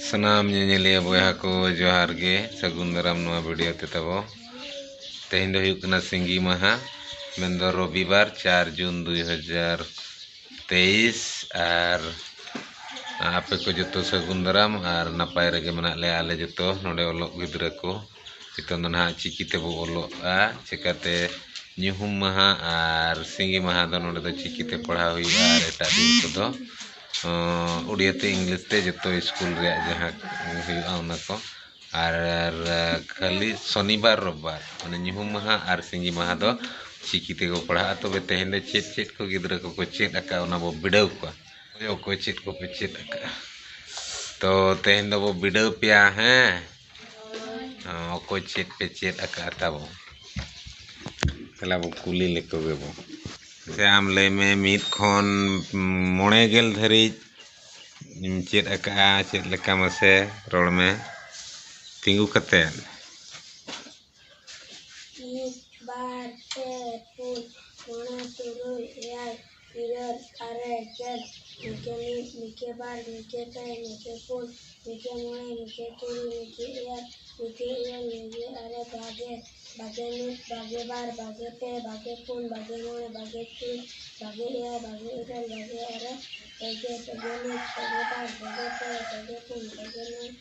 ᱥᱟᱱᱟᱢ ᱧᱮᱧᱮᱞᱤᱭᱟᱹ ᱵᱚᱭᱦᱟ ᱠᱚ ᱡᱚᱦᱟᱨ ᱜᱮ ᱥᱟᱹᱜᱩᱱ ᱫᱟᱨᱟᱢ ᱱᱚᱣᱟ ᱵᱷᱤᱰᱤᱭᱳ ᱛᱮ ᱛᱟᱵᱚ ᱛᱮᱦᱮᱧ ᱫᱚ ᱦᱩᱭᱩᱜ ᱠᱟᱱᱟ ᱥᱤᱸᱜᱤ ᱢᱟᱦᱟ ᱢᱮᱱᱫᱚ ᱨᱚᱵᱤᱵᱟᱨ ᱪᱟᱨ ᱡᱩᱱ ᱫᱩᱭ ᱦᱟᱡᱟᱨ ᱛᱮᱭᱤᱥ ᱟᱨ ᱟᱯᱮ ᱠᱚ ᱡᱚᱛᱚ ᱥᱟᱹᱜᱩᱱ ᱫᱟᱨᱟᱢ ᱟᱨ ᱱᱟᱯᱟᱭ ᱨᱮᱜᱮ ᱢᱮᱱᱟᱜ ᱞᱮᱭᱟ ᱟᱞᱮ ᱡᱚᱛᱚ ᱱᱚᱰᱮ ᱚᱞᱚᱜ ᱜᱤᱫᱽᱨᱟᱹ ᱠᱚ ᱱᱤᱛᱚᱝ ᱫᱚ ᱱᱟᱦᱟᱜ ᱪᱤᱠᱤ ᱛᱮᱵᱚ ᱚᱞᱚᱜᱼᱟ ᱪᱤᱠᱟᱹᱛᱮ ᱧᱩᱦᱩᱢ ᱢᱟᱦᱟ ᱟᱨ ᱥᱤᱸᱜᱤ ᱢᱟᱦᱟ ᱫᱚ ᱱᱚᱰᱮ ᱫᱚ ᱪᱤᱠᱤ ᱛᱮ ᱯᱟᱲᱦᱟᱣ ᱦᱩᱭᱩᱜᱼᱟ ᱟᱨ ᱮᱴᱟᱜ ᱫᱤᱱ ᱠᱚᱫᱚ ᱩᱰᱤᱭᱟ ᱛᱮ ᱤᱝᱞᱤᱥ ᱛᱮ ᱡᱚᱛᱚ ᱥᱠᱩᱞ ᱨᱮᱭᱟᱜ ᱡᱟᱦᱟᱸ ᱦᱩᱭᱩᱜᱼᱟ ᱚᱱᱟ ᱠᱚ ᱟᱨ ᱠᱷᱟᱹᱞᱤ ᱥᱚᱱᱤ ᱵᱟᱨ ᱨᱳᱵᱽ ᱵᱟᱨ ᱢᱟᱱᱮ ᱧᱩᱦᱩᱢ ᱢᱟᱦᱟ ᱟᱨ ᱥᱤᱸᱜᱤ ᱢᱟᱦᱟ ᱫᱚ ᱪᱤᱠᱤ ᱛᱮᱜᱮ ᱠᱚ ᱯᱟᱲᱦᱟᱜᱼᱟ ᱛᱚᱵᱮ ᱛᱮᱦᱮᱧ ᱫᱚ ᱪᱮᱫ ᱪᱮᱫ ᱠᱚ ᱜᱤᱫᱽᱨᱟᱹ ᱠᱚᱠᱚ ᱪᱮᱫ ᱟᱠᱟᱫᱼᱟ ᱚᱱᱟ ᱵᱚᱱ ᱵᱤᱰᱟᱹᱣ ᱠᱚᱣᱟ ᱚᱠᱚᱭ ᱪᱮᱫ ᱠᱚᱯᱮ ᱪᱮᱫ ᱟᱠᱟᱫᱼᱟ ᱛᱚ ᱛᱮᱦᱮᱧ ᱫᱚᱵᱚᱱ ᱵᱤᱰᱟᱹᱣ ᱯᱮᱭᱟ ᱦᱮᱸ ᱚᱠᱚᱭ ᱪᱮᱫ ᱯᱮ ᱪᱮᱫ ᱟᱠᱟᱫ ᱛᱟᱵᱚ ᱛᱟᱦᱚᱞᱮ ᱟᱵᱚ ᱠᱩᱞᱤ ᱞᱮᱠᱚ ᱜᱮᱵᱚ ᱥᱮ ᱟᱢ ᱞᱟᱹᱭ ᱢᱮ ᱢᱤᱫ ᱠᱷᱚᱱ ᱢᱚᱬᱮ ᱜᱮᱞ ᱫᱷᱟᱹᱨᱤᱡ ᱪᱮᱫ ᱟᱠᱟᱫᱼᱟ ᱪᱮᱫ ᱞᱮᱠᱟ ᱢᱟᱥᱮ ᱨᱚᱲ ᱢᱮ ᱛᱤᱸᱜᱩ ᱠᱟᱛᱮᱫ ᱢᱤᱫ ᱵᱟᱨ ᱯᱮ ᱯᱩᱱ ᱢᱚᱬᱮ ᱛᱩᱨᱩᱭ ᱮᱭᱟᱭ ᱤᱨᱟᱹᱞ ᱟᱨᱮ ᱜᱮᱞ ᱢᱤᱫᱜᱮ ᱢᱤᱫ ᱢᱤᱫᱜᱮ ᱵᱟᱨ ᱢᱤᱫᱜᱮ ᱯᱮ ᱢᱤᱫᱜᱮ ᱯᱩᱱ ᱢᱤᱫᱜᱮ ᱢᱚᱬᱮ ᱢᱤᱫᱜᱮ ᱛᱩᱨᱩᱭ ᱢᱤᱫᱜᱮ ᱮᱭᱟᱭ ᱢᱤᱫᱜᱮ ᱤᱨᱟᱹᱞ ᱢᱤᱫᱜᱮ ᱟᱨᱮ ᱵᱟᱜᱮ ᱵᱟᱜᱮ ᱢᱤᱫ ᱵᱟᱜᱮ ᱵᱟᱨ ᱵᱟᱜᱮ ᱯᱮ ᱵᱟᱜᱮ ᱯᱩᱱ ᱵᱟᱜᱮ ᱢᱚᱬᱮ ᱵᱟᱜᱮ ᱛᱩᱨᱩᱭ ᱵᱟᱜᱮ ᱮᱭᱟᱭ ᱵᱟᱜᱮ ᱤᱨᱟᱹᱞ ᱵᱟᱜᱮ ᱟᱨᱮ ᱯᱮᱜᱮ ᱯᱮᱜᱮ ᱢᱤᱫ ᱯᱮᱜᱮ ᱵᱟᱨ ᱯᱮᱜᱮ ᱯᱮ ᱯᱮᱜᱮ ᱯᱩᱱ ᱯᱮᱜᱮ ᱢᱚᱬᱮ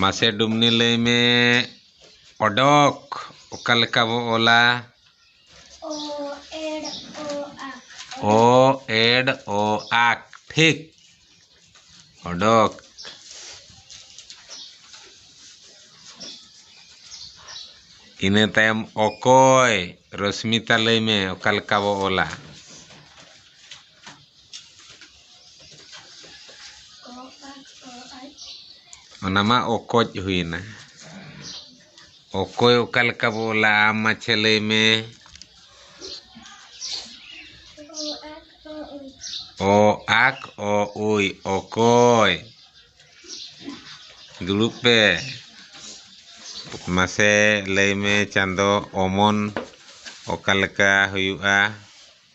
ᱢᱟᱥᱮ ᱰᱩᱢᱱᱤ ᱞᱟᱹᱭ ᱢᱮ ᱚᱰᱚᱠ ᱚᱠᱟ ᱞᱮᱠᱟ ᱵᱚ ᱚᱞᱟ ᱚ ᱮᱰ ᱚ ᱟᱠ ᱴᱷᱤᱠ ᱚᱰᱚᱠ ᱤᱱᱟᱹ ᱛᱟᱭᱚᱢ ᱚᱠᱚᱭ ᱨᱚᱥᱢᱤᱛᱟ ᱞᱟᱹᱭ ᱢᱮ ᱚᱠᱟ ᱞᱮᱠᱟ ᱵᱚ ᱚᱞᱟ ᱚᱱᱟ ᱢᱟ ᱚᱠᱚᱡ ᱦᱩᱭᱮᱱᱟ ᱚᱠᱚᱭ ᱚᱠᱟ ᱞᱮᱠᱟ ᱵᱚ ᱚᱞᱟ ᱟᱢ ᱢᱟᱪᱷᱟ ᱞᱟᱹᱭ ᱢᱮ ᱚ ᱟᱠ ᱚ ᱩᱭ ᱚᱠᱚᱭ ᱫᱩᱲᱩᱵ ᱯᱮ ᱢᱟᱥᱮ ᱞᱟᱹᱭ ᱢᱮ ᱪᱟᱸᱫᱚ ᱚᱢᱚᱱ ᱚᱠᱟ ᱞᱮᱠᱟ ᱦᱩᱭᱩᱜᱼᱟ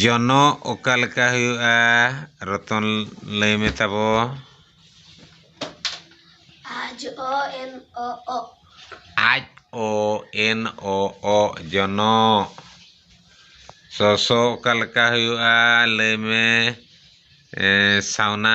ᱡᱚᱱᱚᱜ ᱚᱠᱟ ᱞᱮᱠᱟ ᱦᱩᱭᱩᱜᱼᱟ ᱨᱚᱛᱚᱱ ᱞᱟᱹᱭ ᱢᱮ ᱛᱟᱵᱚ ᱟᱡ ᱚ ᱮᱱ ᱚ ᱚ ᱟᱡ ᱚ ᱮᱱ ᱚ ᱚ ᱡᱚᱱᱚᱜ ᱥᱚᱥᱚ ᱚᱠᱟ ᱞᱮᱠᱟ ᱦᱩᱭᱩᱜᱼᱟ ᱞᱟᱹᱭ ᱢᱮ ᱥᱟᱣᱱᱟ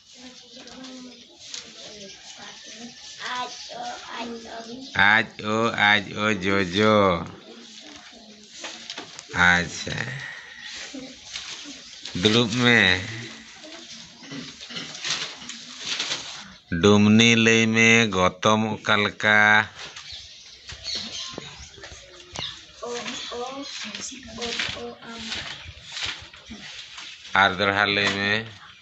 ᱟᱡ ᱳ ᱟᱡ ᱳ ᱡᱚᱡᱚ ᱟᱪᱪᱷᱟ ᱫᱩᱲᱩᱵ ᱢᱮ ᱰᱩᱢᱱᱤ ᱞᱟᱹᱭ ᱢᱮ ᱜᱚᱛᱚᱢ ᱚᱠᱟ ᱞᱮᱠᱟ ᱟᱨ ᱫᱚᱲᱦᱟ ᱞᱟᱹᱭ ᱢᱮ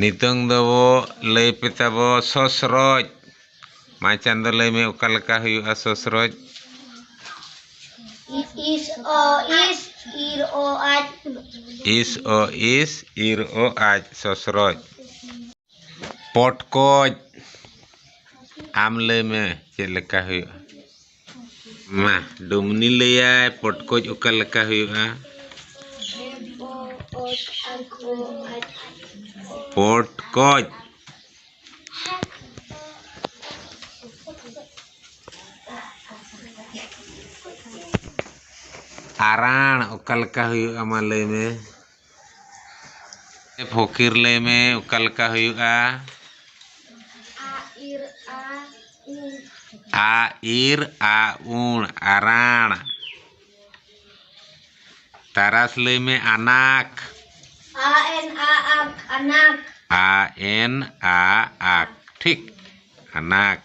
ᱱᱤᱛᱚᱝ ᱫᱚ ᱞᱟᱹᱭ ᱯᱮ ᱛᱟᱵᱚ ᱥᱚᱥᱨᱚᱡᱽ ᱢᱟ ᱪᱟᱸᱫᱚ ᱞᱟᱹᱭ ᱢᱮ ᱚᱠᱟ ᱞᱮᱠᱟ ᱦᱩᱭᱩᱜᱼᱟ ᱥᱚᱥᱨᱚᱡᱽ ᱤᱥ ᱚ ᱤᱥ ᱤᱨ ᱚ ᱟᱡ ᱤᱥ ᱚ ᱤᱥ ᱤᱨ ᱚ ᱟᱡ ᱥᱚᱥᱨᱚᱡᱽ ᱯᱚᱴᱠᱚᱡ ᱟᱢ ᱞᱟᱹᱭ ᱢᱮ ᱪᱮᱫ ᱞᱮᱠᱟ ᱦᱩᱭᱩᱜᱼᱟ ᱢᱟ ᱰᱩᱢᱱᱤ ᱞᱟᱹᱭᱟᱭ ᱯᱚᱴᱠᱚᱡ ᱚᱠᱟ ᱞᱮᱠᱟ ᱦᱩᱭᱩᱜᱼᱟ ᱯᱚᱴᱠᱚᱡ ᱟᱨᱟᱬ ᱚᱠᱟ ᱞᱮᱠᱟ ᱦᱩᱭᱩᱜᱼᱟ ᱢᱟ ᱞᱟᱹᱭ ᱢᱮ ᱮ ᱯᱷᱚᱠᱤᱨ ᱞᱟᱹᱭ ᱢᱮ ᱚᱠᱟ ᱞᱮᱠᱟ ᱦᱩᱭᱩᱜᱼᱟ ᱟ ᱤᱨ ᱟ ᱩᱬ ᱟᱨᱟᱬ ᱛᱟᱨᱟᱥ ᱞᱟᱹᱭ ᱢᱮ ᱟᱱᱟᱠ ᱟ ᱮᱱ ᱟ ᱟᱠ ᱟᱱᱟᱠ ᱟ ᱮᱱ ᱟ ᱟᱠ ᱴᱷᱤᱠ ᱟᱱᱟᱠ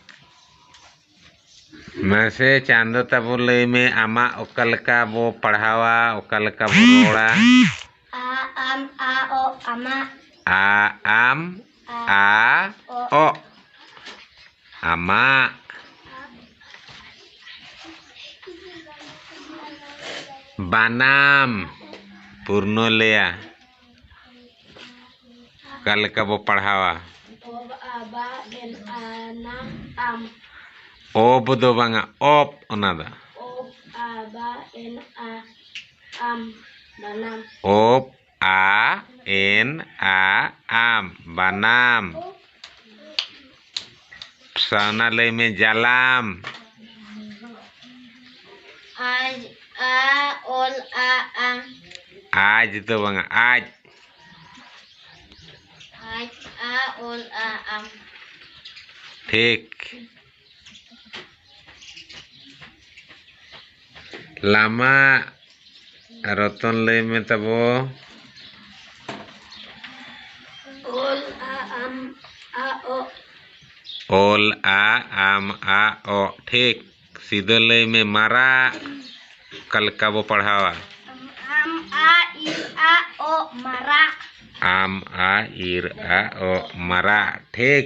ᱢᱟᱥᱮ ᱪᱟᱸᱫᱚ ᱛᱟᱵᱚ ᱞᱟᱹᱭ ᱢᱮ ᱟᱢᱟᱜ ᱚᱠᱟ ᱞᱮᱠᱟ ᱵᱚ ᱯᱟᱲᱦᱟᱣᱟ ᱚᱠᱟ ᱞᱮᱠᱟ ᱵᱚ ᱨᱚᱲᱟ ᱟ ᱟᱢ ᱟ ᱚ ᱟᱢᱟᱜ ᱟ ᱟᱢ ᱟ ᱚ ᱟᱢᱟᱜ ᱵᱟᱱᱟᱢ ᱯᱩᱨᱱᱚᱞᱮᱭᱟ ᱚᱠᱟ ᱞᱮᱠᱟ ᱵᱚ ᱯᱟᱲᱦᱟᱣᱟ ᱚᱵ ᱫᱚ ᱵᱟᱝᱟ ᱚᱯ ᱚᱱᱟ ᱫᱚ ᱚᱯ ᱟ ᱮᱱ ᱟ ᱟᱢ ᱵᱟᱱᱟᱢ ᱥᱟᱣᱱᱟ ᱞᱟᱹᱭ ᱢᱮ ᱡᱟᱞᱟᱢ ᱟᱡ ᱟ ᱚᱞ ᱟ ᱟᱢ ᱟᱡ ᱫᱚ ᱵᱟᱝᱟ ᱟᱡ ᱟᱡ ᱟ ᱚᱞ ᱟ ᱟᱢ ᱴᱷᱤᱠ ᱞᱟᱢᱟ ᱨᱚᱛᱚᱱ ᱞᱟᱹᱭ ᱢᱮ ᱛᱟᱵᱚ ᱚᱞ ᱟ ᱟᱢ ᱟ ᱚ ᱚᱞ ᱟ ᱟᱢ ᱟ ᱚ ᱴᱷᱤᱠ ᱥᱤᱫᱟᱹ ᱞᱟᱹᱭ ᱢᱮ ᱢᱟᱨᱟᱜ ᱚᱠᱟ ᱞᱮᱠᱟ ᱵᱚ ᱯᱟᱲᱦᱟᱣᱟ ᱟᱢ ᱟ ᱤ ᱟ ᱚ ᱢᱟᱨᱟᱜ ᱟᱢ ᱟ ᱤᱨ ᱟ ᱚ ᱢᱟᱨᱟᱜ ᱴᱷᱤᱠ